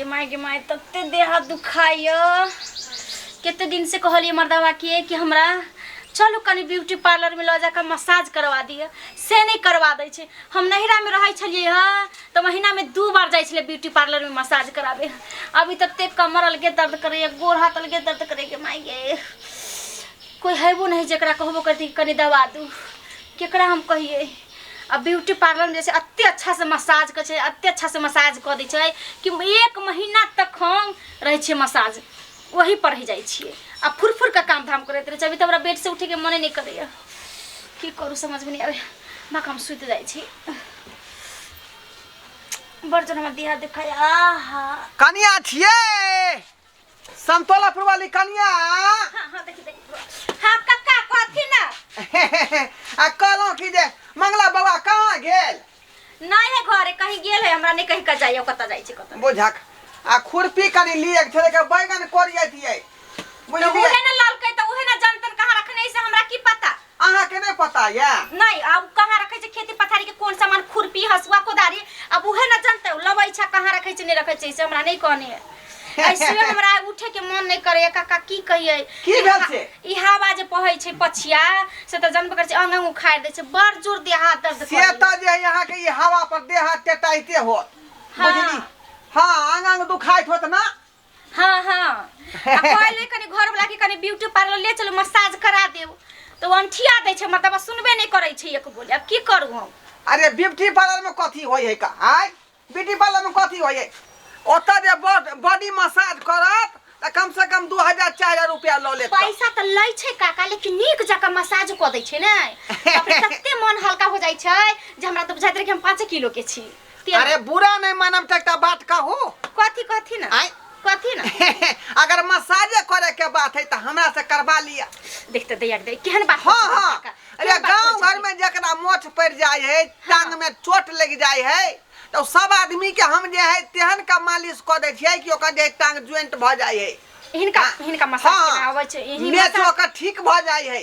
गे माय गे माय तते देह हाथ दुखाइए कते दिनसँ कहलियै मर्दवा के कि हमरा चलू कनि ब्यूटी पार्लरमे लऽ जाकऽ मसाज करवा दिअ से नहि करवा दै छै हम नैहरामे रहै छलियै हँ तऽ महीनामे दू बार जाइ छलियै ब्यूटी पार्लरमे मसाज कराबे हँ। अभी तते कमर अलगे दर्द करैए गोड़ हाथ अलगे दर्द करैए माय गे कोइ हेबो नहि जकरा कहबो करती कि कनि दबा दू केकरा हम कहियै अब ब्यूटी पार्लर में जैसे अत्ते अच्छा से मसाज कर छै अत्ते अच्छा से मसाज कर दै छै कि एक महीना तक हम रहे छे मसाज वही पर रह जाए छे आ फुर फुर का काम धाम करते रहे अभी तो हमरा बेड से उठे के मने नहीं करे की करू समझ में नहीं आवे माँ हम सुत जाए छी बर्तन हम दिया दिखाया आहा कनिया छिए संतोलापुर वाली कनिया हाँ हाँ देखी देखी हाँ कक्का कहती ना आ कहलहुँ कि जे मंगला बाबा कहाँ गेल नहीं है घरे कहीं गेल है हमरा नहीं कहीं का जाइए कत जाई छी कत बुझक आ खुरपी कनी लिए के थोड़े के बैगन कोरिए दिए तो बुझलिए उहे ना ललकै तो उहे ना जानतन कहाँ रखने से हमरा की पता अहाँ के नहीं पता ये नहीं अब कहाँ रखे छे खेती पथारी के कौन सामान खुरपी हसुआ कोदारी अब उहे न जानते लबै छा कहाँ रखे छे नहीं रखे छे से हमरा नहीं कहने है ऐसे हमरा उठे के मन नहीं करे काका की कहिए की भेल छे? ई हवा जे पहै छे पछिया से त जनबे करे छे अंग अंग उखाड़ दे छे बड़ जोर दे हाथ दर्द से करे। त जे यहाँ के ये हवा पर देह टेटाइते होत हाँ। बुझली हाँ आंग आंग दुखाइत होत ना हाँ हाँ आ कहले कनी घर वाला के कनी ब्यूटी पार्लर ले चलो मसाज करा देव तो अंठिया दे छे मतलब आ सुनबे नहीं करे छे एक बोले अब की करू हम अरे ब्यूटी पार्लर में कथी होय है का आय ब्यूटी पार्लर में कथी होय है ओतऽ जे बॉड- बॉडी मसाज करत तऽ कम से कम दू हजार चारि हजार रुपया लऽ लेत पैसा तो लै छे काका लेकिन नीक जका मसाज क दे छे ने बाप रे, तते मन हल्का हो जाय छे जे हमरा तो बुझाइत रहे कि हम पाँचे किलो के छी तेल अरे बुरा नहीं मानम त एकटा बात कहू कथी कथी ना आय। कथी ना अगर मसाजे करे के बात है त हमरा से करवा लिया देख त दैया के दै केहन बात हाँ करछी हाँ काका, अरे केहन बात गांव करछी? घर में जकरा मोच पड़ जाए है टांग में चोट लग जाए है तो सब आदमी के हम जे है तेहन का मालिश क दे छियै कि ओकर जे है टांग ज्वाइंट भ जाए है इनका हाँ। इनका मसाज हाँ। के आवे छै इही मेच मसाज ओकर ठीक भ जाए है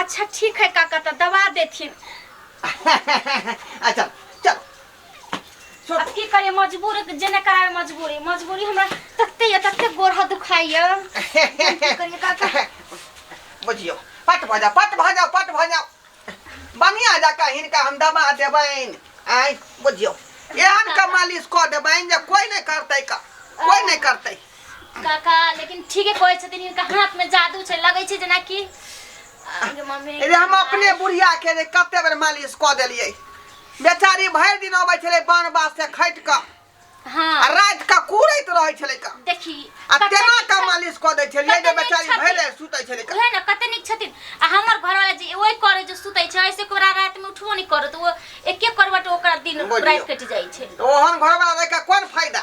अच्छा ठीक है काका तो दबा देथिन आ चल चल छोड़ अब की करे मजबूर जेने करावे मजबूरी मजबूरी हमरा तत्ते ये तत्ते गोर हाथ दुखाइए की करिए काका बुझियो पट भऽ जाओ पट भऽ जाओ पट भऽ जाओ बनिया जका हिनका हम दबा देबैन आय बुझियो एहन का मालिश कऽ देबैन जे कोई नहि करतै का कोई नहि करतै काका लेकिन ठीके कहै छथिन हिनका हाथ में जादू छै लगै छै जेना कि अरे मम्मी रे हम अपने बुढ़िया के रे कते बेर मालिश कऽ देलियै बेचारी भरि दिन अबै छलै बान बास से खटि कऽ आ हाँ राति कऽ कुड़ैत रहै छलै कऽ देखी आ कते तेना नीक कऽ छथिन। मालिश कऽ दै छलियै जे कते नीक बेचारी छथिन। भरि राति सुतै छलै कऽ उहे ने कते नीक छथिन आ हमर घरवाला जे ओइ करे जे सुतै छै ऐसे कोरा रात में उठबो नहि करत ओ एके करवट ओकरा दिन बुझियौ। रात कटि जाइ छै ओहन घरवाला रहि कऽ कोन फायदा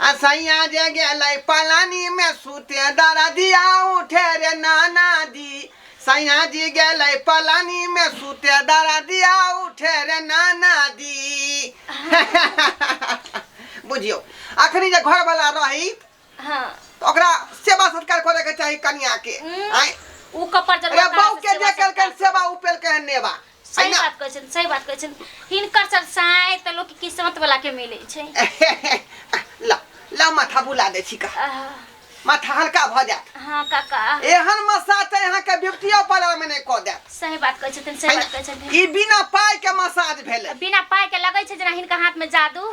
आ सैया जे गेलै पलानी में सूते दरदिया उठे रे नाना दी सैया जी गेलै पलानी में सूते दरदिया उठे रे नाना दी बुझियौ अखनी जे घर वाला रही हाँ तऽ ओकरा सेवा सत्कार करे के चाही कनिया के हम्म। आय ऊ कपड़ रे जरूर बहू के जे केलकै सेवा उ पेलकै हन नेवा सही ना? बात कहै छथिन सही बात कहै छथिन हिनकर सब साय तऽ लोक किस्मत वाला के मिलै छै ला ला माथा बुला दै छी का आह, माथा हल्का भऽ जायत हाँ काका एहन मसाज तऽ अहाँके ब्यूटियो पार्लर मे नहि कऽ देत सही बात कहै छथिन सही बात कहै छथिन ई बिना पाइ के मसाज भेलै बिना पाइ के लगै छै जेना हिनका हाथ में जादू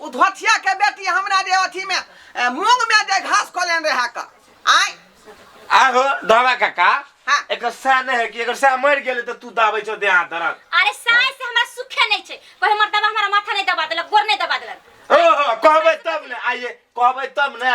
ओ धोथिया के बेटी हमरा जे अथी में ए, मूंग में जे घास खोलेन रहे का आय आहो दावा काका हाँ। एकर सह नहीं है कि एकर सह मर गेले तो तू दाबै छौ देहा दरद अरे साय से हमरा सुखे नहीं छे कोई हमर दबा हमरा माथा नहीं दबा देलक गोर नहीं दबा देलक ओहो कहबै तब ने आइए कहबै तब ने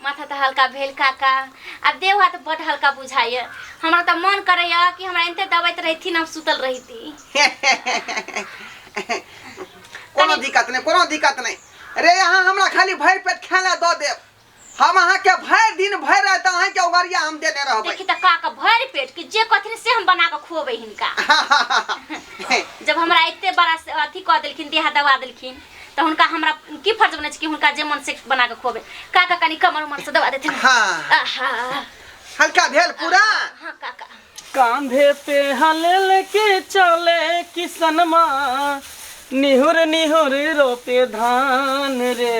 माथा तऽ हल्का भेल काका आ देह हाथ बड हल्का बुझाइए हमरा तऽ मन करैए कि हमरा एनते दबैत रहथिन हम सुतल रहिती कोनो दिक्कत नहीं कोनो दिक्कत नहीं रे यहाँ हमरा खाली भर पेट खेला दो दे हम अहा के भर दिन भर रात अहा के उगरिया हम देने रहबे देखी तऽ काका भर पेट कि जे कथिन से हम बना के खुएबै हिनका जब हमरा एते बड़ा अथी कह देलखिन देहा दबा देलखिन तऽ हुनका हमरा की फर्ज बनै छै कि हुनका जे मन से बना के खुआबे काका कनी कमर उमर से दबा देते ना। हाँ। आहा हल्का भेल पूरा हाँ काका कांधे पे हले लेके चले किसनमा निहुर निहुर रोपे धान रे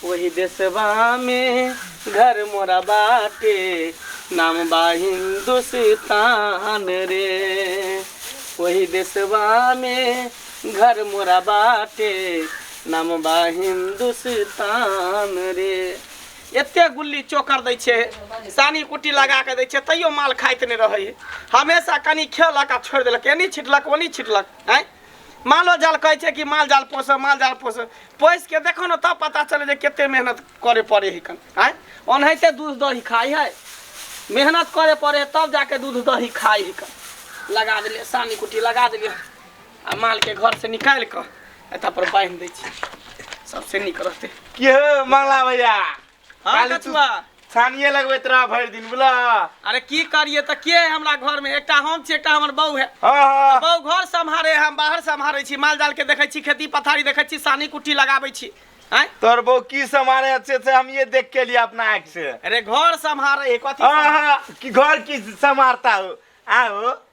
वही देशवा में घर मोरा बाटे नाम बा हिंदुस्तान रे वही देशवा में घर मोरा बाटे नाम बा हिंदुस्तान रे एते गुल्ली चोकर दै छै सानी कुट्टी लगा कऽ दै छै तैयो माल खाइत नहि रहै है। हमेशा कनि खेलक आ छोड़ि देलक एनी छिटलक ओनी छिटलक आँय मालो जाल कहै छै कि माल जाल पोसऽ माल जाल पोसऽ पोसि के देखो ने तब पता चलै जे कते मेहनत करे पड़े है कन आँय ओनाहिते दूध दही खाइ है मेहनत करे पड़े है तब जाके दूध दही खाइ है कन लगा देलियै सानी कुट्टी लगा देलियै आ मालके घरसँ निकालि कऽ एतऽ पर बान्हि दै छी सबसे नीक रहतै की हो मंगला भैया हँ काली तू- कछुआ छानिए लगबैत रह भरि दिन बुला अरे की करिए तऽ के है हमरा घर में एकटा हम छी एकटा हमर बहू है हँ हँ बहू घर सम्हारे हम बाहर सम्हारे छी माल जाल के देखै छी खेती पथारी देखै छी सानी कुट्टी लगाबै छी आँय तोर बहू की समारे अच्छे से हम ये देख के लिए अपना आँख से अरे घर सम्हारे है कथी हाँ हाँ कि घर की समारता हो आओ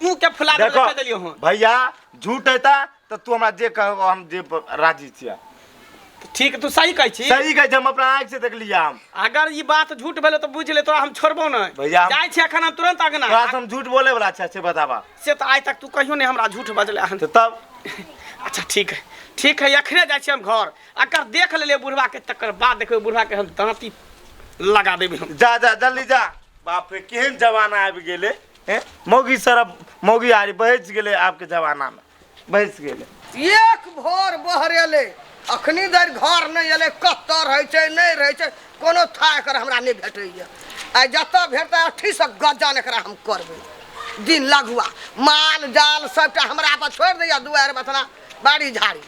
मुंह के फुला देबे देखो कह देलियो हन भैया झूठ है ता तो तू हमरा जे कहबो हम जे प- राजी छिया ठीक है, तू सही कहै छी सही कहे छै, हम अपना आँख से देख लिया हम अगर ई बात झूठ भेलै तऽ बुझ ले तोरा हम छोड़बो नहि भैया, हम- जाइ छी अखन हम तुरंत अगना तोरा से हम झूठ बोले वाला छै से बताबा से तऽ आइ तक तू कहियो नहि हमरा झूठ बजले हन तो तब अच्छा ठीक है ठीक है अखने जाइ छी हम घर अगर देख लेले बुढ़वा के तकर बाद देखबै बुढ़वा के हम दाँती लगा देबै हम जा जा जल्दी जा बाप रे केहन जमाना आबि गेले ए, मौगी सरब मौगी आरी बहस गेलै आबके जमानामे बहस गेलै एक भोर बहरेले अखनी धरि घर नहि एलै कतऽ रहै छै नहि रहै छै कोनो था एकर हमरा नहि भेटैए आ जतऽ भेटतै अठीसँ गजन एकरा हम करबै दिन लगुआ माल जाल सभटा हमरा पर छोड़ि दैए दुआरि बथना बाड़ी झाड़ी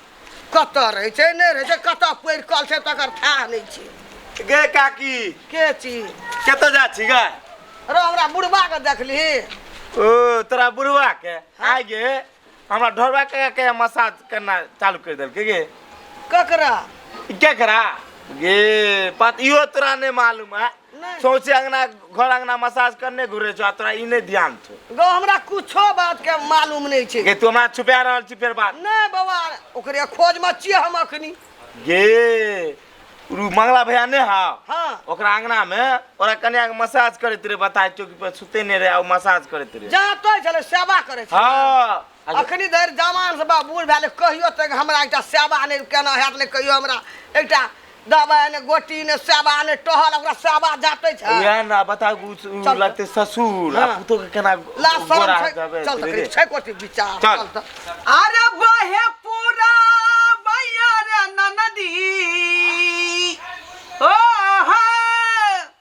कतऽ रहै छै नहि रहै छै कतऽ पड़ि कल छै तकर थाह नहि छै गे काकी के छी कतऽ जा छी गे रो हमरा बुढ़बा के देखली ओ तोरा बुढ़वा के आ गे हमरा ढोरवा के के मसाज करना चालू कर देलकै गे ककरा ई केकरा गे बात इहो तोरा नहि मालूम है नहीं सोचे अंगना घर अंगना मसाज करने घुरे छो आ तोरा ई नहीं ध्यान छो गो हमरा कुछो बात के मालूम नहीं छे गे तू हमरा छुपा रहल छी फेर बात नहीं बाबा ओकरे खोज में छिए हम अखनी गे रू मंगला भैया ने हा हाँ ओकरा अंगना में ओरा कन्या के मसाज करैत रहे बताय चौकी पर सुते ने रहे आ उ मसाज करैत रहे जहाँ तो चले सेवा करे छे हाँ अखनी धरि जवान से बा बूढ़ भेल कहियो तक हमरा एकटा सेवा नहि केना हैत नहि कहियो हमरा एकटा दबाइ ने गोटी ने सेवा ने टहल ओकरा सेवा जाते छै उएह ना बता उ- उ चल तऽ। लगते ससुर आ हाँ। पुतो के केना ला शरम गोरा छै जाबे चल धीरे। तक छै कोटी विचार चल। चल तऽ। अरे बहे पूरा मैया रे ननदी ओ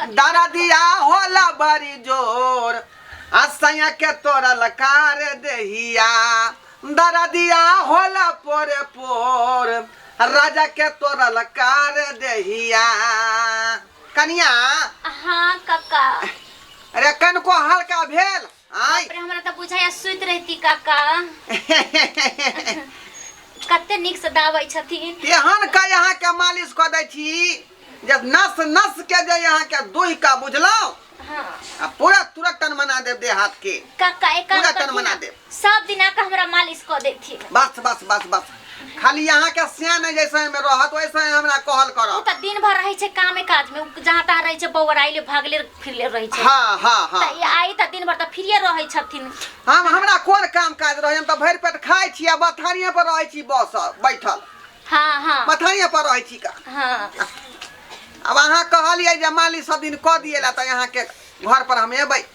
दरदिया होला बड़ी जोर आ सैया के तोरा लकार देहिया दरदिया होला पोरे पोर राजा के तोरा लकार देहिया कनिया हाँ काका अरे कनको हल्का भेल आय बाप रे हमरा तऽ बुझाइया सुति रहिती काका कते नीक से दाबै छथिन तेहन के यहाँ के मालिश कऽ दै छी जे नस नस के जे यहाँ के दुहि का बुझलहुँ हाँ आ पूरा तुरंत तन मना देव देह हाथ के काका एक काम पूरा तन करथिन मना ना, देब। सब दिना के हमरा मालिश कऽ देथिन बस बस बस बस खाली यहाँ के सियान है जैसे में रहत वैसे ही हमरा कहल उ करब त दिन भर रहै छै कामे काज में उ जहाँ तहाँ रहै छै बौराइले भागले फिरले रहै छै हाँ हाँ हाँ त ई आई त दिन भर त फ्रीए रहै छथिन हम हमरा कोन काम काज रहे हम तो भरि पेट खाइ छी आ बथानिया पर रहै छी बस बैठल हाँ हाँ बथानिया पर रहै छी का हाँ अब अहाँ कहलियै जे मालिक सब दिन कऽ दिए ला तऽ अहाँके घर पर हम एबै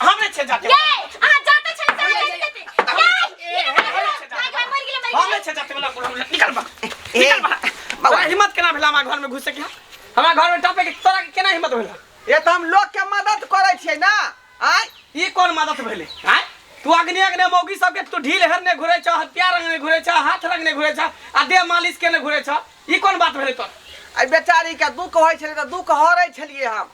हम नहि छै जाते ये अहाँ जाते छल तऽ अहाँ जाते जाते ये ये भाग भाग मर गेलै मर हम गेलै नहि छै जाते वाला बुढ़ा बुढ़ा निकल बा ए, निकल बा बौआ। तोरा हिम्मत केना भेला हमरा घर में घुसे के हमरा घर में टपे के तोरा के केना हिम्मत भेला ये तऽ हम लोग के मदद करे छियै ना आय ई कोन मदद भेले आय तू अग्नि अग्नि मौगी सबके तू ढील हर ने घुरे छ हत्या रंग ने घुरे छ हाथ रंग ने घुरे छ आ देह मालिश के ने घुरे छ ई कोन बात भेले तोर आ बेचारी के दुख होइ छलै तऽ दुख हरै छलियै हम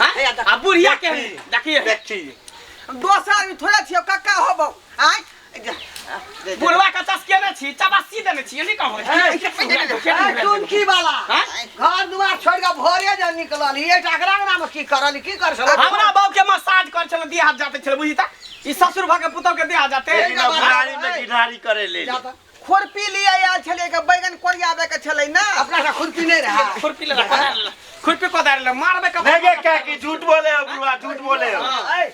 हाँ? हे, देखी, आ बुढ़िया के देखी, देखिए देखी दोसर आदमी थोड़े छियो कक्का होबो आय दे, दे। बुढ़वा के तस के ने छी चबासी देने छी नहीं कहबो ए, ए, टुनकी वाला हाँ? घर दुआर छोड़ के भोरे जे निकलल ये टकरा अंगना में की करल की कर छल हमरा बाप के मसाज कर छल देह हाथ जाते छल बुझी ता ई ससुर भा के पुतौ के देह हाथ जाते ए, ए, गाड़ी में गिरहारी करे ले ले। खुरपी लिए आयल छलियै के बैगन कोरियाबे के छलै ना अपना का खुरपी नहीं रहा खुरपी ले कोदार ले खुरपी कोदार ले मारबे का नहीं गे क्या की झूठ बोले हो बुआ झूठ बोले हो ए,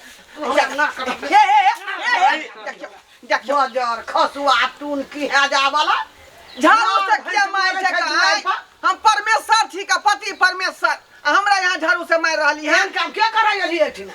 हे, हे, हे, हे, हे, देखियो, देखियो बजर खसुआ टून की है जा वाला झाड़ू से किया मार छै कहाँ? हम परमेश्वर छी का पति परमेश्वर आ हमरा यहाँ झाड़ू से मार रहली है एहन काम के करै अली एठिना